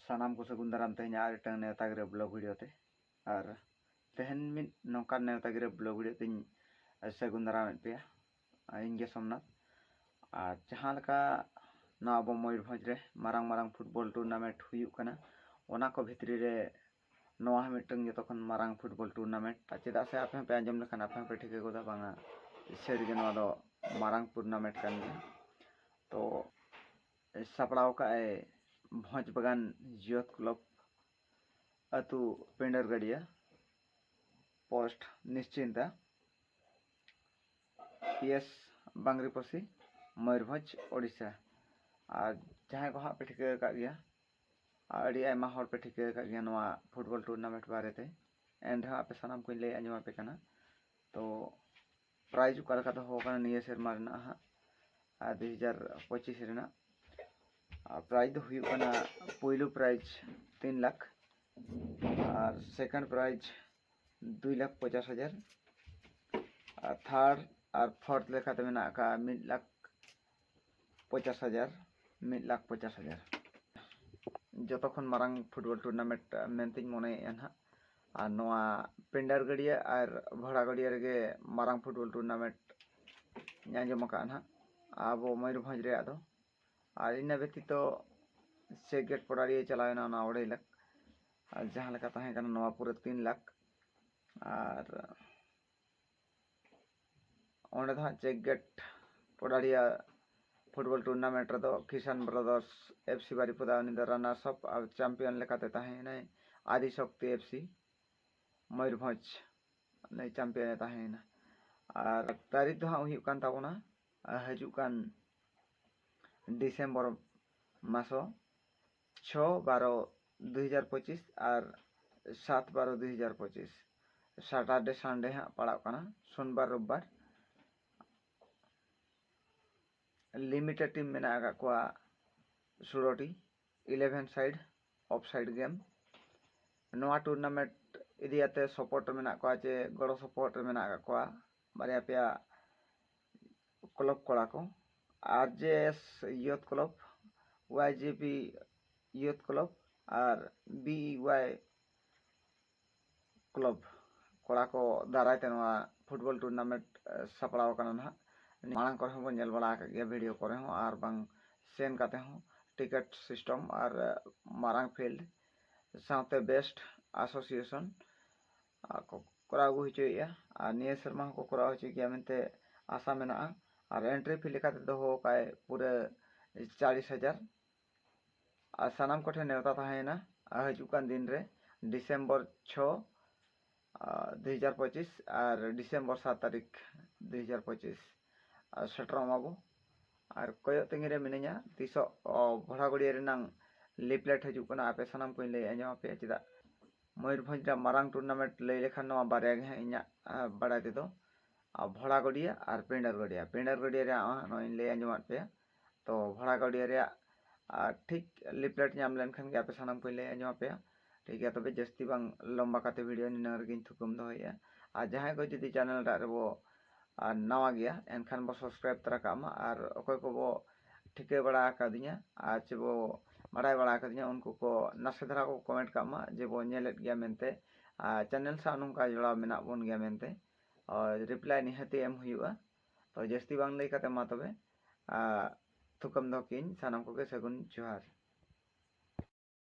ᱥᱟᱱᱟᱢ ᱠᱚ ᱥᱟᱹᱜᱩᱱ ᱫᱟᱨᱟᱢ ᱛᱮᱦᱮᱧᱟᱜ ᱟᱨ ᱢᱤᱫᱴᱟᱝ ᱱᱮᱣᱛᱟ ᱜᱤᱨᱟᱹ ᱵᱞᱚᱜᱽ ᱵᱷᱤᱰᱤᱭᱳ ᱛᱮ ᱟᱨ ᱛᱮᱦᱮᱧ ᱢᱤᱫ ᱱᱚᱝᱠᱟᱱ ᱱᱮᱣᱛᱟ ᱜᱤᱨᱟᱹ ᱵᱞᱚᱜᱽ ᱵᱷᱤᱰᱤᱭᱳ ᱛᱮᱧ ᱥᱟᱹᱜᱩᱱ ᱫᱟᱨᱟᱢᱮᱫ ᱯᱮᱭᱟ ᱤᱧᱜᱮ ᱥᱳᱢᱱᱟᱛᱷ ᱟᱨ ᱡᱟᱦᱟᱸ ᱞᱮᱠᱟ ᱱᱚᱣᱟ ᱟᱵᱚ ᱢᱚᱭᱩᱨᱵᱷᱚᱸᱡᱽ ᱨᱮ ᱢᱟᱨᱟᱝ ᱢᱟᱨᱟᱝ ᱯᱷᱩᱴᱵᱚᱞ ᱴᱩᱨᱱᱟᱢᱮᱱᱴ ᱦᱩᱭᱩᱜ ᱠᱟᱱᱟ ᱚᱱᱟ ᱠᱚ ᱵᱷᱤᱛᱨᱤ ᱨᱮ ᱱᱚᱣᱟ ᱦᱚᱸ ᱢᱤᱫᱴᱟᱝ ᱡᱚᱛᱚ ᱠᱷᱚᱱ ᱢᱟᱨᱟᱝ ᱯᱷᱩᱴᱵᱚᱞ ᱴᱩᱨᱱᱟᱢᱮᱱᱴ ᱪᱮᱫᱟᱜ ᱥᱮ ᱟᱯᱮ ᱦᱚᱸᱯᱮ ᱟᱸᱡᱚᱢ ᱞᱮᱠᱷᱟᱱ ᱟᱯᱮ ᱦᱚᱸᱯᱮ ᱴᱷᱤᱠᱟᱹ ᱜᱚᱫᱟ ᱵᱟᱝᱟ ᱥᱟᱹᱨᱤᱜᱮ ᱱᱚᱣᱟ ᱫᱚ ᱢᱟᱨᱟᱝ ᱴᱩᱨᱱᱟᱢᱮᱱᱴ ᱠᱟᱱ ᱜᱮᱭᱟ ᱛᱚ ᱥᱟᱯᱲᱟᱣ ᱟᱠᱟᱫ ᱟᱭ ᱵᱷᱚᱸᱡᱽ ᱵᱟᱜᱟᱱ ᱡᱤᱭᱚᱛ ᱠᱞᱚᱵᱽ ᱟᱹᱛᱩ Pindar Gadia post Nischinta P S Bangriposi Mayurbhanj Odisha ᱟᱨ ᱡᱟᱦᱟᱸᱭ ᱠᱚ ᱦᱟᱸᱜ ᱯᱮ ᱴᱷᱤᱠᱟᱹ ᱟᱠᱟᱫ ᱜᱮᱭᱟ ᱟᱨ ᱟᱹᱰᱤ ᱟᱭᱢᱟ ᱦᱚᱲ ᱯᱮ ᱴᱷᱤᱠᱟᱹ ᱟᱠᱟᱫ ᱜᱮᱭᱟ ᱱᱚᱣᱟ ᱯᱷᱩᱴᱵᱚᱞ ᱴᱩᱨᱱᱟᱢᱮᱱᱴ ᱵᱟᱨᱮᱛᱮ ᱮᱱ ᱨᱮᱦᱚᱸ ᱟᱯᱮ ᱥᱟᱱᱟᱢ ᱠᱚᱧ ᱞᱟᱹᱭ ᱟᱸᱡᱚᱢ ᱟᱯᱮ ᱠᱟᱱᱟ ᱛᱚ ᱯᱨᱟᱭᱤᱡᱽ ᱚᱠᱟ ᱞᱮᱠᱟ ᱫᱚᱦᱚ ᱟᱠᱟᱱᱟ ᱱᱤᱭᱟᱹ ᱥᱮᱨᱢᱟ ᱨᱮᱱᱟᱜ ᱦᱟᱸᱜ ᱟᱨ ᱫᱩ ᱦᱟᱡᱟᱨ ᱯᱚᱸᱪᱤᱥ ᱨᱮᱱᱟᱜ ᱟᱨ ᱯᱨᱟᱭᱤᱡᱽ ᱫᱚ ᱦᱩᱭᱩᱜ ᱠᱟᱱᱟ ᱯᱳᱭᱞᱳ ᱯᱨᱟᱭᱤᱡᱽ ᱛᱤᱱ ᱞᱟᱠᱷ ᱟᱨ ᱥᱮᱠᱮᱱᱰ ᱯᱨᱟᱭᱤᱡᱽ ᱫᱩᱭ ᱞᱟᱠᱷ ᱯᱚᱪᱟᱥ ᱦᱟᱡᱟᱨ ᱟᱨ ᱛᱷᱟᱨᱰ ᱟᱨ ᱯᱷᱳᱨᱛᱷ ᱞᱮᱠᱟᱛᱮ ᱢᱮᱱᱟᱜ ᱟᱠᱟᱫᱼᱟ ᱢᱤᱫ ᱞᱟᱠᱷ ᱯᱚᱪᱟᱥ ᱦᱟᱡᱟᱨ ᱢᱤᱫ ᱞᱟᱠᱷ ᱯᱚᱪᱟᱥ ᱦᱟᱡᱟᱨ ᱡᱚᱛᱚ ᱠᱷᱚᱱ ᱢᱟᱨᱟᱝ ᱯᱷᱩᱴᱵᱚᱞ ᱴᱩᱨᱱᱟᱢᱮᱱᱴ ᱢᱮᱱᱛᱮᱧ ᱢᱚᱱᱮᱭᱮᱫᱼᱟ ᱱᱟᱦᱟᱜ ᱟᱨ ᱱᱚᱣᱟ ᱯᱮᱱᱰᱟᱨ ᱜᱟᱹᱰᱭᱟᱹ ᱟᱨ ᱵᱷᱚᱲᱟ ᱜᱟᱹᱰᱭᱟᱹ ᱨᱮᱜᱮ ᱢᱟᱨᱟᱝ ᱯᱷᱩᱴᱵᱚᱞ ᱴᱩᱨᱱᱟᱢᱮᱱᱴ ᱤᱧ ᱟᱸᱡᱚᱢ ᱟᱠᱟᱫᱼᱟ ᱱᱟᱦᱟᱜ ᱟᱵᱚ ᱢᱚᱭᱩᱨᱵᱷᱚᱸᱡᱽ ᱨᱮᱭᱟᱜ ᱫᱚ ᱟᱨ ᱤᱱᱟᱹ ᱵᱮᱛᱤᱛᱚ ᱥᱮ ᱜᱮᱴ ᱯᱚᱰᱟᱨᱤᱭᱟᱹ ᱪᱟᱞᱟᱣᱮᱱᱟ ᱚᱱᱟ ᱚᱲᱟᱹᱭ ᱞᱟᱠᱷ ᱟᱨ ᱡᱟᱦᱟᱸ ᱞᱮᱠᱟ ᱛᱟᱦᱮᱸ ᱠᱟᱱᱟ ᱱᱚᱣᱟ ᱯᱩᱨᱟᱹ ᱛᱤᱱ ᱞᱟᱠᱷ ᱟᱨ ᱚᱸᱰᱮ ᱫᱚ ᱦᱟᱸᱜ check gate Podariya football tournament ᱨᱮᱫᱚ Kisan brothers F C Baripada ᱩᱱᱤ ᱫᱚ ᱨᱟᱱᱟᱨᱥ ᱟᱯ ᱟᱨ ᱪᱟᱢᱯᱤᱭᱚᱱ ᱞᱮᱠᱟᱛᱮ ᱛᱟᱦᱮᱸᱭᱮᱱᱟᱭ ᱟᱫᱤ ᱥᱚᱠᱛᱤ ᱮᱯᱷ ᱥᱤ ᱢᱚᱭᱩᱨᱵᱷᱚᱸᱡᱽ ᱱᱩᱭ ᱪᱟᱢᱯᱤᱭᱚᱱᱮ ᱛᱟᱦᱮᱸᱭᱮᱱᱟ ᱟᱨ ᱛᱟᱹᱨᱤᱠᱷ ᱫᱚ ᱦᱟᱸᱜ ᱦᱩᱭᱩᱜ ᱠᱟᱱ ᱛᱟᱵᱚᱱᱟ ᱦᱤᱡᱩᱜ ᱠᱟᱱ ᱰᱤᱥᱮᱢᱵᱚᱨ ᱢᱟᱥᱚ ᱪᱷᱚ ᱵᱟᱨᱚ ᱫᱩ ᱦᱟᱡᱟᱨ ᱯᱚᱸᱪᱤᱥ ᱟᱨ ᱥᱟᱛ ᱵᱟᱨᱚ ᱫᱩ ᱦᱟᱡᱟᱨ ᱯᱚᱸᱪᱤᱥ ᱥᱟᱴᱟᱨᱰᱮ ᱥᱟᱱᱰᱮ ᱦᱟᱸᱜ ᱯᱟᱲᱟᱜ ᱠᱟᱱᱟ ᱥᱳᱢᱵᱟᱨ ᱨᱳᱵᱵᱟᱨ ᱞᱤᱢᱤᱴᱮᱰ ᱴᱤᱢ ᱢᱮᱱᱟᱜ ᱟᱠᱟᱫ ᱠᱚᱣᱟ ᱥᱩᱲᱚᱴᱤ eleven side of side game ᱱᱚᱣᱟ ᱴᱩᱨᱱᱟᱢᱮᱱᱴ ᱤᱫᱤᱭᱟᱛᱮ ᱥᱚᱯᱚᱨᱴ ᱨᱮ ᱢᱮᱱᱟᱜ ᱠᱚᱣᱟ ᱪᱮ ᱜᱚᱲᱚ ᱥᱚᱯᱚᱦᱚᱫ ᱨᱮ ᱢᱮᱱᱟᱜ ᱟᱠᱟᱫ ᱠᱚᱣᱟ ᱵᱟᱨᱭᱟ ᱯᱮᱭᱟ ᱠᱞᱚᱵᱽ ᱠᱚᱲᱟ ᱠᱚ ᱟᱨ ᱡᱮ ᱮᱥ ᱭᱩᱛᱷ ᱠᱞᱚᱵᱽ ᱚᱣᱟᱭ ᱡᱮ ᱯᱤ ᱭᱩᱛᱷ ᱠᱞᱚᱵᱽ ᱟᱨ ᱵᱤ ᱚᱣᱟᱭ ᱠᱞᱚᱵᱽ ᱠᱚᱲᱟ ᱠᱚ ᱫᱟᱨᱟᱭ ᱛᱮ ᱱᱚᱣᱟ ᱯᱷᱩᱴᱵᱚᱞ ᱴᱩᱨᱱᱟᱢᱮᱱᱴ ᱥᱟᱯᱲᱟᱣ ᱠᱟᱱᱟ ᱱᱟᱦᱟᱜ ᱢᱟᱲᱟᱝ ᱠᱚᱨᱮ ᱦᱚᱸᱵᱚᱱ ᱧᱮᱞ ᱵᱟᱲᱟ ᱟᱠᱟᱫ ᱜᱮᱭᱟ ᱵᱷᱤᱰᱤᱭᱳ ᱠᱚᱨᱮ ᱦᱚᱸ ᱟᱨ ᱵᱟᱝ ᱥᱮᱱ ᱠᱟᱛᱮ ᱦᱚᱸ ᱴᱤᱠᱤᱴ ᱥᱤᱥᱴᱮᱢ ᱟᱨ ᱢᱟᱨᱟᱝ ᱯᱷᱤᱞᱰ ᱥᱟᱶᱛᱮ ᱵᱮᱥᱴ ᱟᱥᱳᱥᱤᱭᱮᱥᱚᱱ ᱠᱚ ᱠᱚᱨᱟᱣ ᱟᱹᱜᱩ ᱦᱚᱪᱚᱭᱮᱫᱼᱟ ᱟᱨ ᱱᱤᱭᱟᱹ ᱥᱮᱨᱢᱟ ᱦᱚᱸᱠᱚ ᱠᱚᱨᱟᱣ ᱦᱚᱪᱚᱭ ᱜᱮᱭᱟ ᱢᱮᱱᱛᱮ ᱟᱥᱟ ᱢᱮᱱᱟᱜᱼᱟ ᱟᱨ ᱮᱱᱴᱨᱤ ᱯᱷᱤ ᱞᱮᱠᱟᱛᱮ ᱫᱚᱦᱚ ᱟᱠᱟᱫ ᱟᱭ ᱯᱩᱨᱟᱹ ᱪᱟᱞᱤᱥ ᱦᱟᱡᱟᱨ ᱟᱨ ᱥᱟᱱᱟᱢ ᱠᱚᱴᱷᱮᱱ ᱱᱮᱣᱛᱟ ᱛᱟᱦᱮᱸᱭᱮᱱᱟ ᱟᱨ ᱦᱤᱡᱩᱜ ᱠᱟᱱ ᱫᱤᱱ ᱨᱮ ᱰᱤᱥᱮᱢᱵᱚᱨ ᱪᱷᱚ ᱫᱩ ᱦᱟᱡᱟᱨ ᱯᱚᱸᱪᱤᱥ ᱟᱨ ᱰᱤᱥᱮᱢᱵᱚᱨ ᱥᱟᱛ ᱛᱟᱹᱨᱤᱠᱷ ᱫᱩ ᱦᱟᱡᱟᱨ ᱯᱚᱸᱪᱤᱥ ᱟᱨ ᱥᱮᱴᱮᱨᱚᱜ ᱢᱟᱵᱚ ᱟᱨ ᱠᱚᱭᱚᱜ ᱛᱟᱺᱜᱤ ᱨᱮ ᱢᱤᱱᱟᱹᱧᱟ ᱛᱤᱥᱚᱜ ᱵᱷᱚᱲᱟᱜᱩᱲᱤᱭᱟᱹ ᱨᱮᱱᱟᱝ ᱞᱤᱯᱷᱞᱮᱴ ᱦᱤᱡᱩᱜ ᱠᱟᱱᱟ ᱟᱯᱮ ᱥᱟᱱᱟᱢ ᱠᱚᱧ ᱞᱟᱹᱭ ᱟᱸᱡᱚᱢ ᱟᱯᱮᱭᱟ ᱪᱮᱫᱟᱜ ᱢᱚᱭᱩᱨᱵᱷᱚᱸᱡᱽ ᱨᱮᱭᱟᱜ ᱢᱟᱨᱟᱝ ᱴᱩᱨᱱᱟᱢᱮᱱᱴ ᱞᱟᱹᱭ ᱞᱮᱠᱷᱟᱱ ᱱᱚᱣᱟ ᱵᱟᱨᱭᱟ ᱜᱮ ᱦᱟᱸᱜ ᱤᱧᱟᱹᱜ ᱵᱟᱲᱟᱭ ᱛᱮᱫᱚ ᱵᱷᱚᱲᱟ ᱜᱟᱹᱰᱭᱟᱹ ᱟᱨ ᱯᱤᱸᱰᱟᱹᱨ ᱜᱟᱹᱰᱭᱟᱹ ᱯᱤᱸᱰᱟᱹᱨ ᱜᱟᱹᱰᱭᱟᱹ ᱨᱮᱭᱟᱜ ᱦᱚᱸ ᱱᱚᱜᱼᱚᱭ ᱤᱧ ᱞᱟᱹᱭ ᱟᱸᱡᱚᱢᱟᱫ ᱯᱮᱭᱟ ᱛᱚ ᱵᱷᱚᱲᱟ ᱜᱟᱹᱰᱭᱟᱹ ᱨᱮᱭᱟᱜ ᱴᱷᱤᱠ ᱞᱤᱯᱷᱞᱮᱴ ᱧᱟᱢ ᱞᱮᱱᱠᱷᱟᱱ ᱜᱮ ᱟᱯᱮ ᱥᱟᱱᱟᱢ ᱠᱚᱧ ᱞᱟᱹᱭ ᱟᱸᱡᱚᱢ ᱟᱯᱮᱭᱟ ᱴᱷᱤᱠ ᱜᱮᱭᱟ ᱛᱚᱵᱮ ᱡᱟᱹᱥᱛᱤ ᱵᱟᱝ ᱞᱚᱢᱵᱟ ᱠᱟᱛᱮ ᱵᱷᱤᱰᱤᱭᱳ ᱱᱤᱱᱟᱹᱜ ᱨᱮᱜᱮᱧ ᱛᱷᱩᱠᱟᱹᱢ ᱫᱚᱦᱚᱭᱮᱫᱼᱟ ᱟᱨ ᱡᱟᱦᱟᱸᱭ ᱠᱚ ᱡᱩᱫᱤ ᱪᱮᱱᱮᱞ ᱴᱟᱜ ᱨᱮᱵᱚ ᱟᱨ ᱱᱟᱣᱟ ᱜᱮᱭᱟ ᱮᱱᱠᱷᱟᱱ ᱵᱚ ᱥᱟᱵᱥᱠᱨᱟᱭᱤᱵ ᱛᱚᱨᱟ ᱠᱟᱜ ᱢᱟ ᱟᱨ ᱚᱠᱚᱭ ᱠᱚᱵᱚ ᱴᱷᱤᱠᱟᱹ ᱵᱟᱲᱟ ᱟᱠᱟᱫᱤᱧᱟ ᱟᱨ ᱪᱮ ᱵᱚ ᱵᱟᱰᱟᱭ ᱵᱟᱲᱟ ᱟᱠᱟᱫᱤᱧᱟ ᱩᱱᱠᱩ ᱠᱚ ᱱᱟᱥᱮ ᱫᱷᱟᱨᱟ ᱠᱚ ᱠᱚᱢᱮᱱᱴ ᱠᱟᱜ ᱢᱟ ᱡᱮ ᱵᱚ ᱧᱮᱞᱮᱫ ᱜᱮᱭᱟ ᱢᱮᱱᱛᱮ ᱟᱨ ᱪᱮᱱᱮᱞ ᱥᱟᱶ ᱱᱚᱝᱠᱟ ᱡᱚᱲᱟᱣ ᱢᱮᱱᱟᱜ ᱵᱚᱱ ᱜᱮᱭᱟ ᱢᱮᱱᱛᱮ ᱨᱤᱯᱞᱟᱭ ᱱᱤᱦᱟᱹᱛᱤ ᱮᱢ ᱦᱩᱭᱩᱜᱼᱟ ᱛᱚ ᱡᱟᱹᱥᱛᱤ ᱵᱟᱝ ᱞᱟᱹᱭ ᱠᱟᱛᱮ ᱢᱟ ᱛᱚᱵᱮ ᱛᱷᱩᱠᱟᱹᱢ ᱫᱚᱦᱚ ᱠᱤᱧ ᱥᱟᱱᱟᱢ ᱠᱚᱜᱮ ᱥᱟᱹᱜᱩᱱ ᱡᱚᱦᱟᱨ